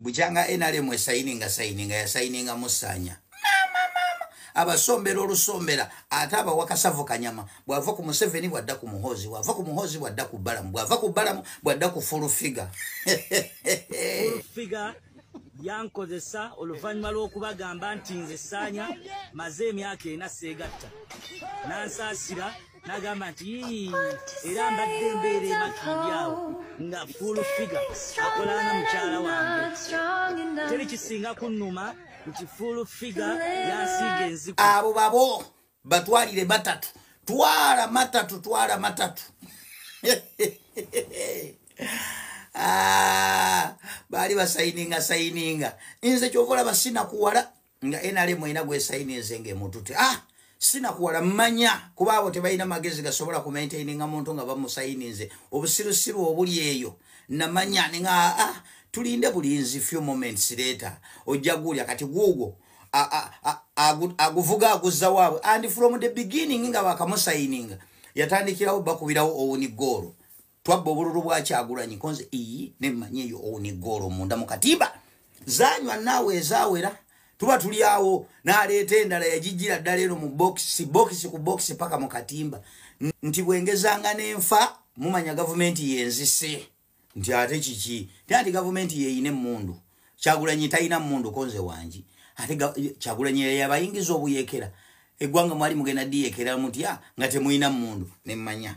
bukyanga nrm esayininga sayininga yasayininga musaanya abasombera olusombera ate abawa kasavu kanyama bwava ku museveni bwadda ku muhoozi bwava ku muhoozi bwadda ku balamu bwava ku balamu bwadda ku fulufiga yankozesa oluvannyuma lw'okubagamba nti nze saanya maze emyaka ena seegatta nansaasira nagamba nti era mbadde mbeera emakindi awo nga full figa akolanga mukyala wange teri kisinga kunuma nti full figa yasiiga enziku abo babo batwalire batatu twala matatu twala matatu ah, baali basayininga sayininga nze kyovola basinakuwala nga nrm erina gwesaininze nga emutute ah sinakuwala manya kuba abo tebalina magezi gasobola kumaintaininga muntu nga bamusaininze obusirusiru obuli eyo namanya ninga aa ah, tulinde bulinzi few moments leta ojja guulya kati guugwo aguvuga aguzza waabwe and from the beginning nga bakamusaininga yatandikirawo bakubirawo owuni goolo twabba obululu bwa kyagulanyi konze iyi nemmanyi eyo owuni goolo munda mu katimba zanywa naawe ezawera tuba tuli awo naleeta endala yagijjira ddala eno mu bokisi bokisi ku bokisi paka mu katimba nti bwengezanga nenfa mumanya gavumenti yenzise nti ate kiki tya nti gavumenti yeyina emmundu kyagulanyi talina mmundu konze wangi ate kyagulanyi yabayingiza obuyekera eggwanga mwali mugenda diyekera mutya nga temulina mmundu nemmanya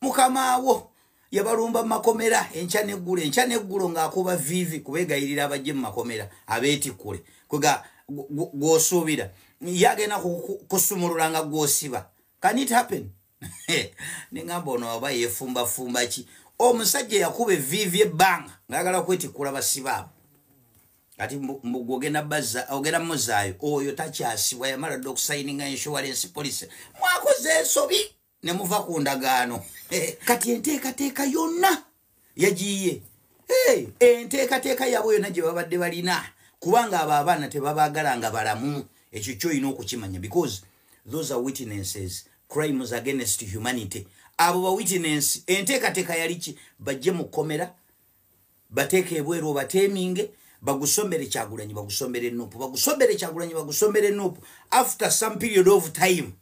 mukamaawo yabalumba mumakomera enkya neggulo enkya neggulo ng'akuba viivi kubegayirira abajje mumakomera abeetikkule kwega gwosuubira ye agenda kusumulula nga gwosiba can it happen nengamba ono oba yefumbafumba ki omusajja yakuba eviivi ebbanga ngaagala kwetikkula basibaabu kati ogenda muzaayo oyo takyasibwa yamala dda okusayininga insurance policy mwakoze ensobi ne muva ku ndagaano kati enteekateeka yonna yagiye enteekateeka yaabwe yonna gye babadde balina kubanga abo abaana tebabaagala nga balamu ekyo kyolina okukimanya because those are witnesses crimes against humanity abo ba witness enteekateeka yali ki bajje mu kkomera bateeka ebweru obateeminge bagusombere kyagulanyi bagusombere nupu bagusombere kyagulanyi bagusombere nupu after some period of time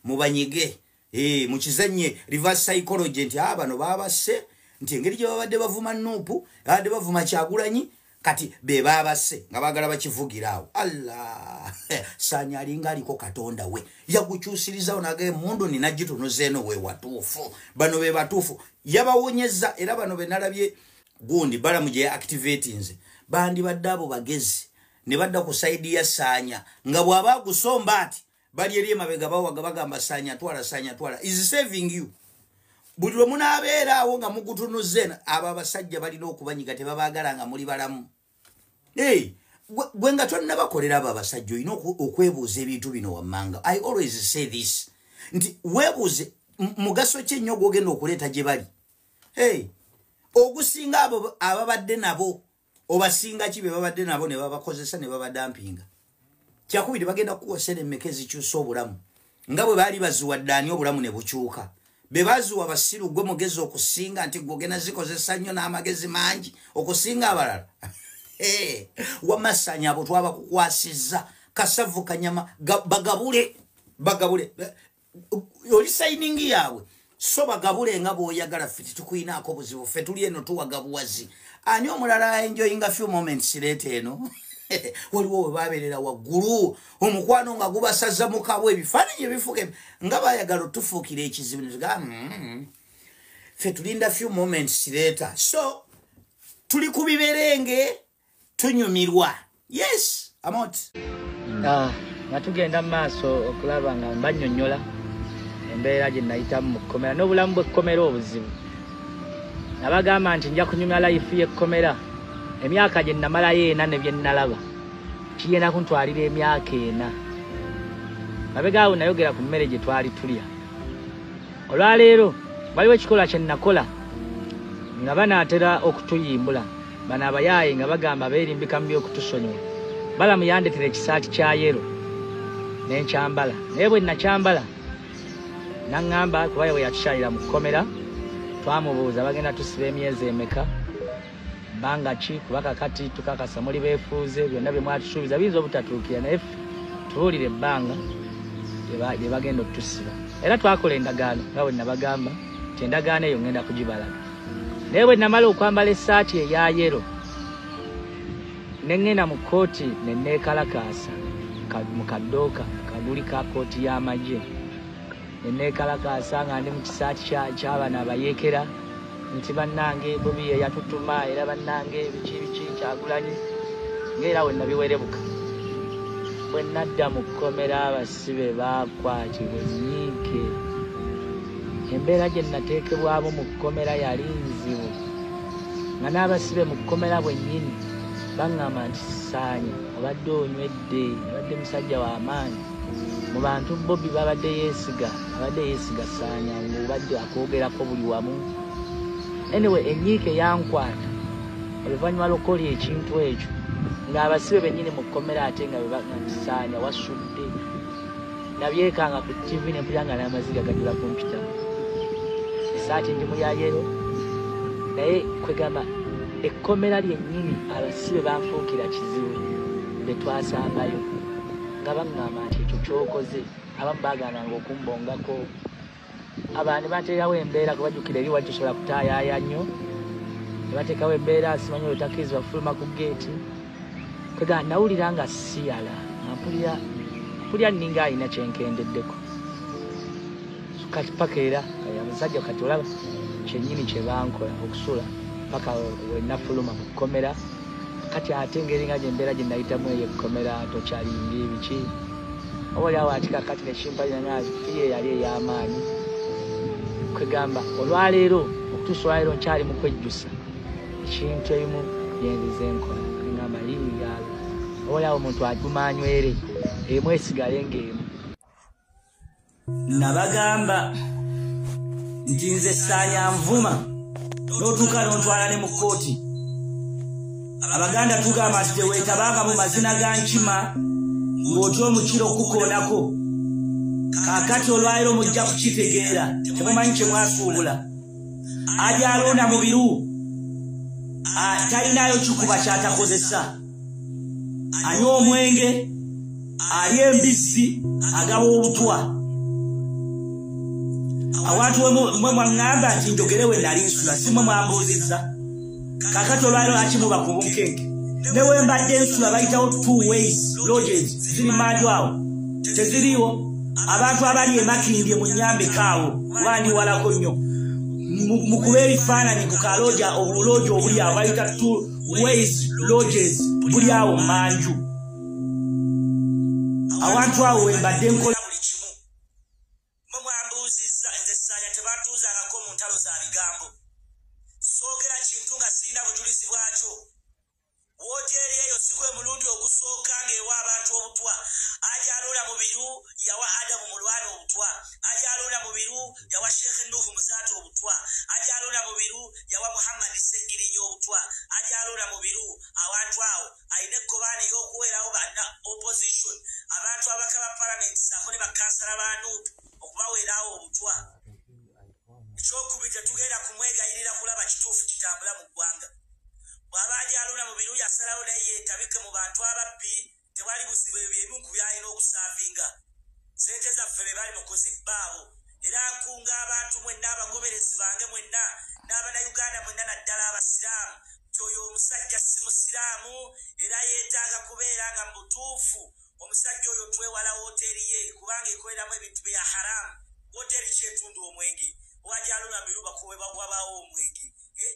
mubanyige eh, mukizanye reverse psychology nti a ah, bano babase nti engeri gye babadde bavuma nuupu babadde bavuma kyagulanyi kati be babase nga bagala bakivugira awo allah sanya alinga aliko katonda we yagukyusirizawo naga emundu nina gitunuzeeno we watuufu bano be batuufu yabawonyeza era bano benalabye gundi balamu gye activatinze bandibadde abo bagezi ne badda ku saidi ya sanya nga bw'aba agusomba ati bali eri emabega bawaga bagamba sanya twala sanya twala is saving you buli lwe munaabeeraawo nga mugutunuzen abo abasajja balina okubanyiga tebabaagala nga muli balamu gwe nga tonnabakolera abo abasajja olina okwebuuza ebintu bino wammanga i always say this nti weebuuze mugaso ki ennyo gwogenda okuleeta gye bali ogusinga abo ababadde nabo obasinga ki bebabadde nabo nebabakozesa nebabadampinga kyakubiri bagenda kukuwa sente meka ezikyusa obulamu nga bwe baali baziwadde ani obulamu ne bukyuka bebaziwa basiru gwe mugezi okusinga nti gwogenda zikozesa nnyo n'amagezi mangi okusinga abalala wamasanya abo twabakukwasizza kasavu kanyama bagabule bagabule oli sayiningi yaabwe so bagabule nga bwoyagala fe tetukuinaako buzibu fe tuli eno tuwagabuwazi ani omulala enjoyinga few moments leeta eno waliwo webabeerera waggulu omukwano nga gubasaza mukabwa ebifaananyi ebifuka nga bayagala otufuukira ekizibu nega mm-hmm. fe tulinda few moments leeta so tuli ku biberenge tunyumirwa yes amot mm. ah, nga tugenda mu maaso okulaba nga mbanyonyola embeera gye nayitamu mu kkomera n'obulamu bw'ekkomera obuzibu nabagamba nti nja kunyumya layifu y'ekkomera emyaka gye namalayo ena ne bye nnalaba kigenda kuntwalira emyaka ena mabegaawo nayogera ku mmere gye twali tulya olwaleero waliwo ekikolwa kye nakola nga banaatera okutuyimbula Bano abayaaye nga bagamba beerimbika mu by'okutusonyiwa. Balamu yandetera ekisaati kya yero ne nkyambala naye bwe nakyambala naŋŋamba kuba ye bwe yatukyalira mu kkomera twamubuuza bagenda tusiba emyezi emeka bbanga ki kuba kakati tukakasa muli beefuuze byonna bye mwatusuubiza biyinza obutatuukira naye tubuulire ebbanga lye bagenda okutusiba era twakola endagaano nga bwe nabagamba nti endagaano eyo ŋŋenda kugibalaga naye bwe namala okwambala essaati eya yero ne ŋŋenda mu kkooti ne neekalakaasa mu kaddooka kaguli ka kkooti y'amagye ne neekalakaasa nga ndi mu kisaati ky'abana abayeekera nti bannange bobi ye yatutuma era bannange biki biki kyagulanyi ngaera we nabiwerebuka bwe nadda mu kkomera abas si be baakwatibwa ennyiike embeera gye nnateekebwamu mu kkomera yali nzibu nga n'abasibe mu kkomera bwennyini baŋŋamba nti sisaanye obadde onywedde obadde musajja w'amaanyi mu bantu bobi babadde yeesiga abadde yeesiga saanya ngaobadde akwogerako buli wamu anyway ennyiike yankwata oluvannyuma lw'okukola ekintu ekyo ng'abasibe bennyini mu kkomera ate nga bebasaanya wasud nabyekanga ku tv nempulira nga n'amaziga gajula kompyuta esaati ndi muyayero naye kwegamba ekkomera lyennyini abasibe banfuukira kizibu be twasambayo nga baŋŋamba nti ekyo kyokoze abamu bagananga okumbongako abantu bateerawo embeera kuba jukira eri wali tosobola kutaayaaya nnyo nebateekawo embeera simanyi oyo takkirizibwa kufuluma ku geeti kwega nawulira nga siyala ampulira mpulira nninga alina kyenkendeddeko kati paka era abasajja kati olaba kyennyini kyebankola okusula paka wenafuluma mu kkomera kati ate ngeri nga gyembeera gye nayitamu eyo ekkomera tokyaliyinga ebiki oba oli awo akikakati nekimpalira naazi iye yali ey'amaanyi kwegamba olwaleero okutuusa olwaleero nkyali mu kwejjusa ekintu ebimu byenziza enkola ngamba yingaalo oba oli awo omuntu aguma anywere emu esigale ng'emu nabagamba nti nze saanya nvuma n'otuuka nontwala ne mu kkooti abaganda tugamba nti teweetabanga mu mazina ga nkima ng'otya omukiro okukukoonako kakati olwaliro mujja kukitegeera temumanyi kye mwasuubula ajalonda mu biru ah, talinaayo kikuba kyatakozesa anywa omwenge alya embizzi agaba obutwa awantu mwe mwaŋŋamba nti njogere we nali nsula si mwe mwambuuzizza kakati olwaliro akimuba ku bunkenke ne we mbadde nsula bayitawo two ways lodges ziri manju awo teziriiwo abantu abali emakindye mu nyambika awo kuba ndi walako nnyo mukube ebifaananyi ku kalooja obulooja obuli awo bayita ways lodges buli awo manju awantu awo wembadde nkola buli kimu mwe mwambuuzizza nze saanya tebatuuzangako mu ntalo za bigambo soogera kintu nga sirina bujulizi bwakyo wooteeri eyo si gwe mulundi ogusooka ng'ewa abantu obutwa ajaluula mu biru yawa adamu mulwana obutwa ajaluula mu biru yawa sheikh nuhu muzaata obutwa ajalula mubiru yawa muhammad segirinya obutwa ajalula mubiru awantu awo ayina ekkobaana eyokuweerawo bana opposition abantu abaka ba parliament saako ne bakansala ba nup okubaweerawo obutwa ekyokubi tetugenda kumwegayirira kulaba kituufu kitambula mu ggwanga bwaba ajalula mubiru yasalawo naye yetabike mu bantu ababbi tewali buzibu ebyo byebimu ku byalina okusaavinga sente zaffe be bali mu kuzibba abo era nkunga abantu mwenna abagoberezi bange mwenna n'abanauganda mwenna naddala abasiraamu nti oyo omusajja si musiraamu era yeetaaga kubeera nga mu butuufu omusajja oyo twewala wooteeri ye kubanga ekoleramu ebintu bya haramu wooteeri kyetundu omwenge wajalula miruba kuwebawabawo omwenge eh,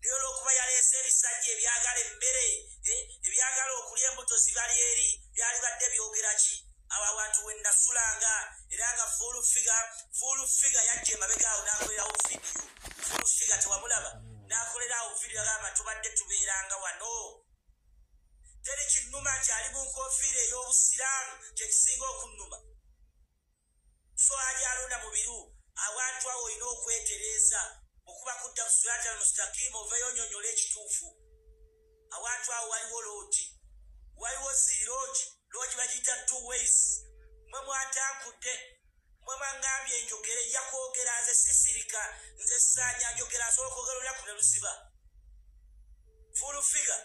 naye olwokuba yaleese ebisajja ebyagala emmere eh, ebyagala okulya embuto zibali eri byali badde byogera ki abo abantu wenasulanga era nga fulfiga fulfiga yajja emabegaawo nakolerawo vidiyo fulfiga tewamulaba nakolerawo vidiyo agamba tubadde tubeeranga wano teri kinnuma nti ali mu nkofiira ey'obusiraamu kyekisinga okunnuma swali alonda mu biru awantu awo olina okwetereeza okuba kudda ku sirata almustakimu oveyo onyonyola ekituufu awantu awo waliwo loogi waliwo zii loogi loogi bagiyita two ways mwe mwatankudde mwe mwangambye enjogere nja kwogera nze sisirika nze saanya njogera asobola okwogera olunaku ne lusiba full figure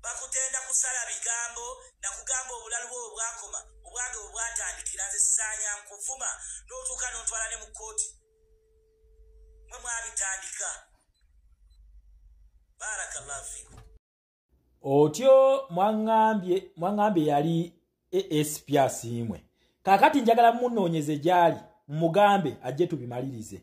bakutenda kusala bigambo nakugamba obulalu bwo obwakoma obwange obwatandikira nze sanya nkuvuma notuuka nontwala ne mu kooti mwe mwabitandika barakallahu fikum otyo mwangambye mwangambye yali asp asiimwe kakati njagala munoonyeze gyali mugambe ajje tubimalirize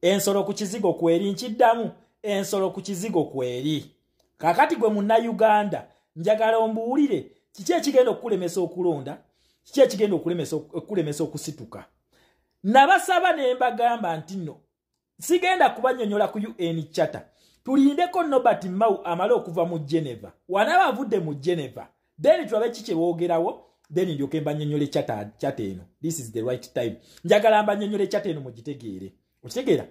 ensolo ku kizigo kweri nkiddamu ensolo ku kizigo kweri kakati gwe munnayuganda njagala ombuwulire kiki ekigenda okukulemesa okulonda kiki ekigenda okukulemesa okusituka nabasaba ne mbagamba nti nno sigenda kubanyonyola ku un chata tulindeko nobert mau amale okuva mu geneva wanaba avudde mu geneva then tulabe ki kyebogerawo then ndyoke mbanyonyole chata chata eno this is the right time njagala mbanyonyole chata eno mugitegeere okitegeera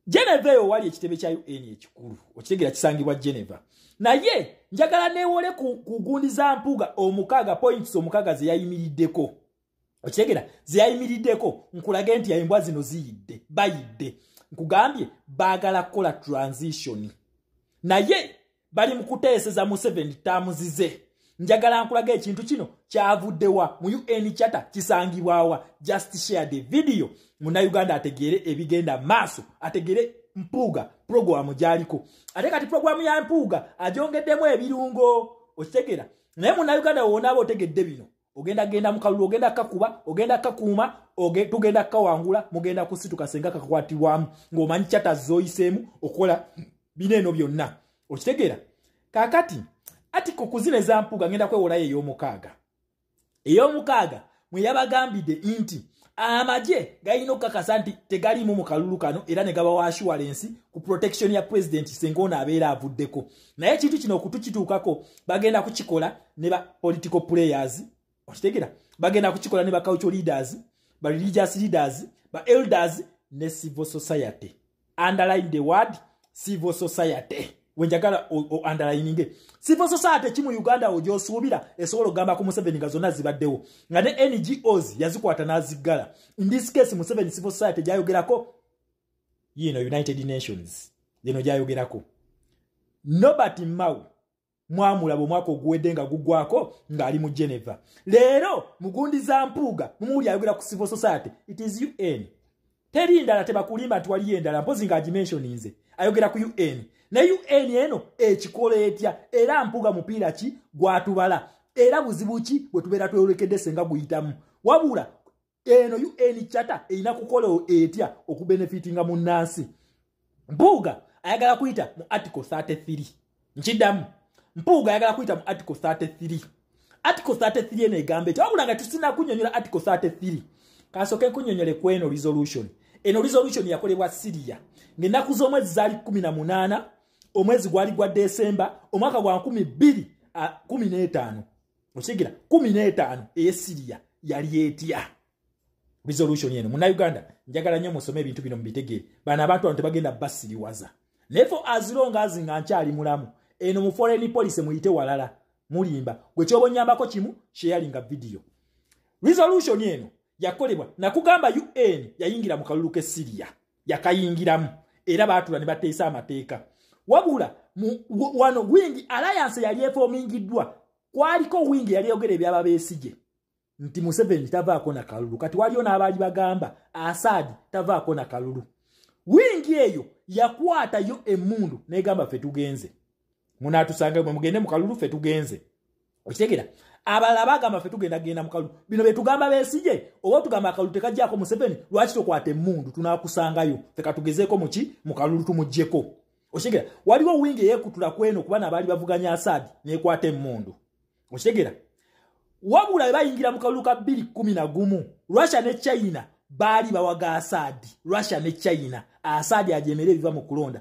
geneva eyo wali ekitebe kya un ekikulu okitegeera kisangibwa geneva naye njagala newole ku gundi za mpuuga omukaaga points omukaaga zeyayimiriddeko okitegera zeyayimiriddeko nkulage nti embwa zino ziyidde bayidde nkugambye baagala kukola transition naye bali mu kuteeseza museveni taamuzize njagala nkulaga ekintu kino kyavuddewa mu un chata kisangibwawa just share the video munauganda ategeere ebigenda maaso ategeere mpuuga puroguramu gyaliko ate kati puroguramu ya mpuuga agyongeddemu ebirungo okitegera naye munauganda woonaaba otegedde bino ogenda genda mukalulu ogenda kakuba ogenda kakuuma oge, tugenda kawangula mugenda kusituka senga kakwatirwamu ng'omanyi chata zoyisemu okola bino eno byonna okitegeera kakati ati kukuzina ezampuga ngenda kwewolayo ey'omukaaga ey'omukaaga mwe yabagambide nti amagye galina okukakasa nti tegaliimu mu kalulu kano era ne gaba wa assurance ku protection ya president senga ono abeera avuddeko naye ekintu kino okutukituukako bagenda kukikola ne ba political players okitegera bagenda kukikola ne ba cultural leaders ba religious leaders ba elders ne civil society underline the word civil society wenjagala underlininge civil society ki mu uganda wo gyosuubira esobola okugamba ku museveni nga zonna zibaddewo nga ne ngos yazikwata n'aziggala in this case museveni civil society gyayogerako yiino united nations yeno gyayogerako nobert mau mwamulaba omwaka oguwedde nga gugwako ng'ali mu geneva leero mugundi za mpuuga mumuwuli ayogera ku civil society it is un teri ndala tebakulimba nti waliyo endala mpozi nga agimensioninze ayogera ku un ne un eno ekikola etya era mpuuga mupiira ki gwatubala era buzibu ki bwe tubeera tweyolekedde senga guyitamu wabula eno un chata erina kukola etya okubenefitinga mu nansi mpuuga ayagala kuyita mu article 33 nkiddamu mpuuga ayagala kuyita mu article 33 article 33 eno egamba ekyo wabula nga tusina kunyonyola article 33 kasoke kunyonyole kweno resolution eno resolution yakolebwa siria ngaenaku z'omwezi zaali 18 omwezi gwali gwa desemba omwaka gwa 215 okigira kumi n'etaano eyesiriya yali etya resolution eno munauganda njagala nnyo musome ebintu bino mubitegeere bano abantu bano tebagenda basiriwaza naye fo azilonga azi nga nkyali mulamu eno mu foreign policy muyite walala mulimba gwe kyoba onyambako kimu sheyalinga vidiyo resolution eno yakolebwa nakugamba un yayingira mu kalulu k'essiriya yakayingiramu era baatula ne bateesa amateeka wabula wano wingi alayanse yali efoomingiddwa kwaliko wingi yali eyogera ebyaba beesigye nti museveni tavaako na kalulu kati waliyo n'abaali bagamba asaadi tavaako na kalulu wingi eyo yakwatayo emundu negamba fe tugenze munatusanga mwe mugende mu kalulu fe tugenze okitegera abalala bagamba fe tugenda genda mukalu bino betugamba besije oba tugamba akalu tekajjako museveni lwaki tokwata emundu tunakusangayo feka tugezeko muki mukalulu tumujjeko okitegera waliwo wingi eyekutula kweno kuba nabaali bavuganya asadi nekwata emundu okitegera wabula bebayingira mukalulu ka bbiri kumi na gumu russia ne china baali bawaga asadi russia ne china asadi ajemere ebiva mu kulonda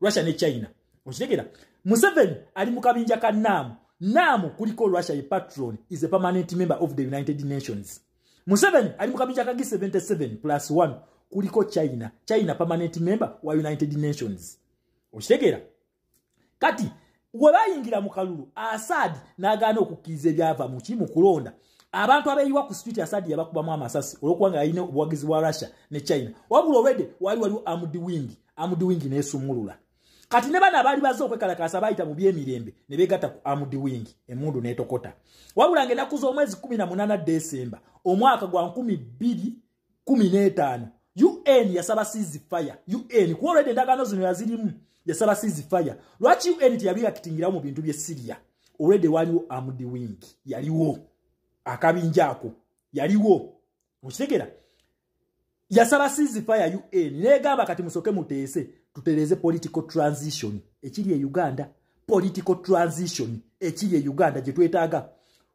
russia ne china okitegera museveni ali mu kabinja ka naamu naamu kuliko russia ye patron is a permanent member of the united nations museveni ali mu kabinja ka g77 plus 1 kuliko china china permanent member wa united nations okitegera kati we bayingira mu kalulu asaadi n'agaana okukkiriza ebyava mu ki mu kulonda abantu abeeyiwa ku street asaadi yabakubamu amasasi olwokuba nga yalina obuwagizi bwa russia ne china wabula olwedde waali waliwo amudi wingi amudi wingi n'esumulula kati ne bana abaali baze okwekalakaasa baayita mu by'emirembe ne beegatta ku amudi wingi emundu n'etokota wabula nga enaku z'omwezi kumi na munaana desemba omwaka gwa nkumi bbiri kumi n'etaano un yasaba sizi fire un kuba olwedde endagaano zino yazirimu yasaba sizi fire lwaki un teyabiyakitingirawo mu bintu bye siriya olwedde waliwo amudi wing yaliwo akabinja ako yaliwo okitegera yasaba sizi fire un negamba kati musoke muteese tutereeze political transition ekiri e uganda political transition ekiri e uganda gye twetaaga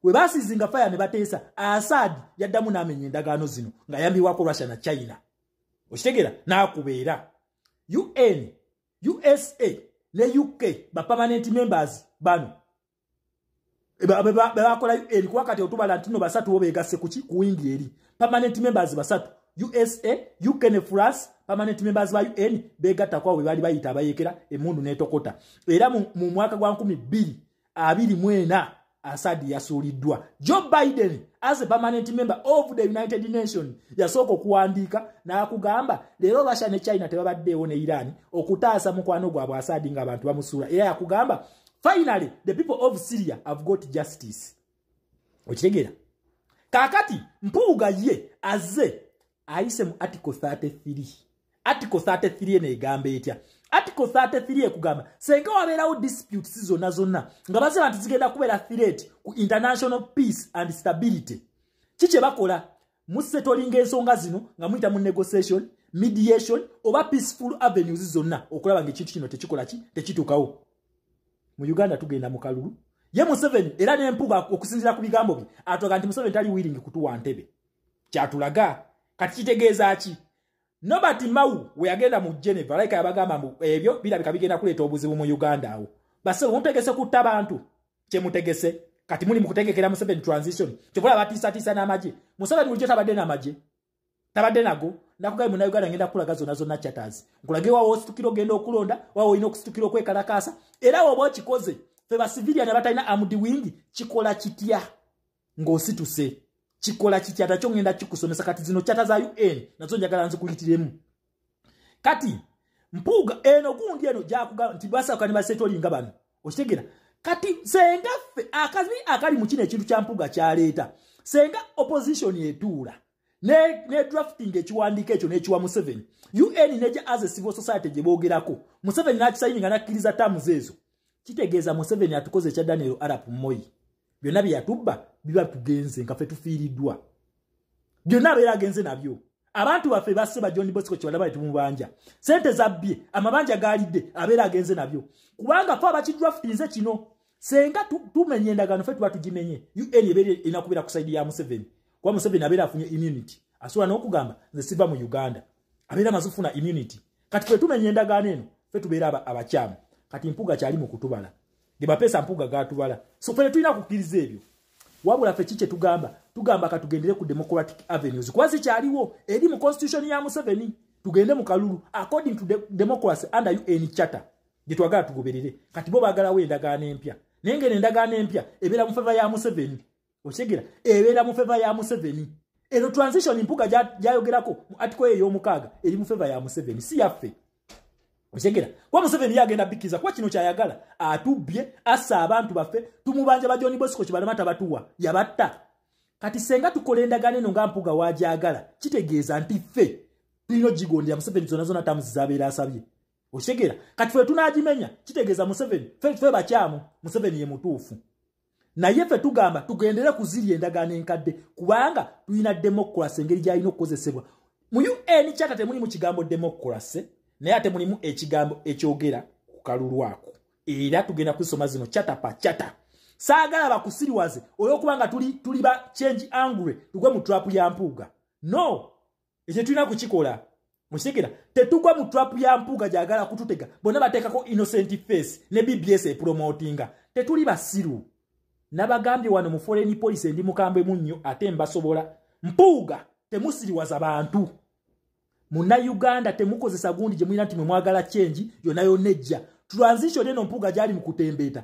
we basizinga faya ne bateesa asad yaddamu n'amenya endagaano zino ng'ayambibwako russia na china okitegeera n'akubeera un usa ne uk bapermanent members bano bebakola ebikuba kati otubala ntino basatu bo begasse kuki ku wingi eri permanent members basatu usa ukn france permanent members ba un begattakwabo bebali bayita abayekera emundu netokota era mu mwaka gwa nkumi bbiri abiri mwena asadi yasuuliddwa joe biden as a permanent member of the united nation yasooka okuwandiika n'akugamba leero russia ne china tebabaddeewo ne iran okutaasa mukwano gwabwe asadi ngaabantu bamusuula era yakugamba finally the people of syria have got justice okitegera kakati mpuuga ye aze ayise mu article 33 article 33 eno egamba etya article 33 ekugamba senga wabeerawo disputes zonna zonna nga baseba nti zigenda kubeera threat ku international peace and stability ki kye bakola musetolinga ensonga zino nga muyita mu negotiation mediation oba peaceful avenues zonna okulaba nga ekintu kino tekikola ki tekituukawo mu uganda tugenda mu kalulu ye museveni era nempuga okusinzira ku bigambo bye atulaga nti museveni tali wiringi kutuwa ntebe kyatulaga kati kitegeeza ki nobert mau weyagenda mu geneva laika yabagamba mbu ebyo birabika bigenda kuleeta obuzibu mu uganda awo basebo mutegese kutta bantu kyemutegese kati muli mukutegekera museveni transition kyovola batiisatiisa n'amagye museveni bulijjo tabadde n'amagye tabadde nago nakugaye muna uganda ngenda kukulaga zona zonna chatters nkulage wawo ositukira ogenda okulonda wawo olina okusitukira okwekalakaasa era woba okikoze fe basivilia ne batalina amudi wingi kikola kitya ng'osituse kikola kikyata kyo ngenda kikusomesa kati zino kyata za un nazo njagala nzikuyitiremu kati mpuuga eno gundi eno gyakuga nti basaka ne basetolinga bano okitegera kati senga ffe akazi akali mu kino ekintu kya mpuuga kyaleeta senga opposition etuula ne, ne drafting ekiwandiiko ekyo n'ekiwa museveni un neja as a civil society gye boogerako museveni n'akisayini nga nakkiriza tamuzi ezo kitegeeza museveni atukoze ekya daniel arap moyi byonna bye yatubba biba tugenze nga fe tufiiriddwa byonna abeera agenze nabyo abantu baffe basse ba john bosco kyebalaba netumubanja sente zabbye amabanja gaalidde abeera agenze nabyo kubanga fe abakidraftinze kino senga tumenya endagaano fe tuba tugimenye un ebeera erina kubeera ku saidi ya museveni kuba museveni abeera afunye immunity asobola n'okugamba nze siva mu uganda abeera amaze okufuna immunity kati fe tumenya endagaano eno fe tubeera abakyamu kati mpuga kyali mu kutubala ge bapeesa mpuga gatubala so fe tulina kukkiriza ebyo wabula fe ki kye tugamba tugamba katugendere ku democratic avenues kuba zikyaliwo eri mu constitution ya museveni tugende mu kalulu according to de democracy under un charter gye twagala tugoberere kati bo baagalawo endagaano empya naye ngeno endagaano empya ebeera mu feva ya museveni okitegera ebeera mu feva ya museveni eno transition mpuga gyayogerako mu atiko eyo ey'omukaaga eri mu feva ya museveni si yaffe okitegera kuba museveni yagenda bikkiriza kuba kino kyayagala atubbye assa abantu baffe tumubanja bajoni bosiko kibalema tabatuwa yabatta kati senga tukola endagaano eno nga mpuga wagyagala kitegeeza nti ffe tulina ogigondera museveni zona zona tamuzi zabeera asabye okitegera kati fe tunagimenya kitegeeza museveni fe bakyamu museveni ye mutuufu naye ffe tugamba tugendere ku ziri endagaano enkadde kubanga tulina demokurasi engeri gyalina okukozesebwa mu un kyata temulimu kigambo demokurasi naye ate mulimu ekigambo ekyogera ku kalulu ako era tugenda kuzisoma zino kyata pa kyata saagala bakusiriwaze olw'okubanga tuli, tuli ba change angry tugwe mu trapu ya mpuuga no ekyo tulina kukikola mukitegera tetugwa mu trap ya mpuuga gyagala kututega bonna bateekako innocent face ne bbs epromotinga tetuli basiru nabagambye wano mu foreign policy endi mukambwe munnyo ate mbasobola mpuuga temusiriwaza bantu muna uganda temukozesa gundi gye mulina nti mwe mwagala kyengi yona yona ejja transition eno mpuuga gyali mu kutembeeta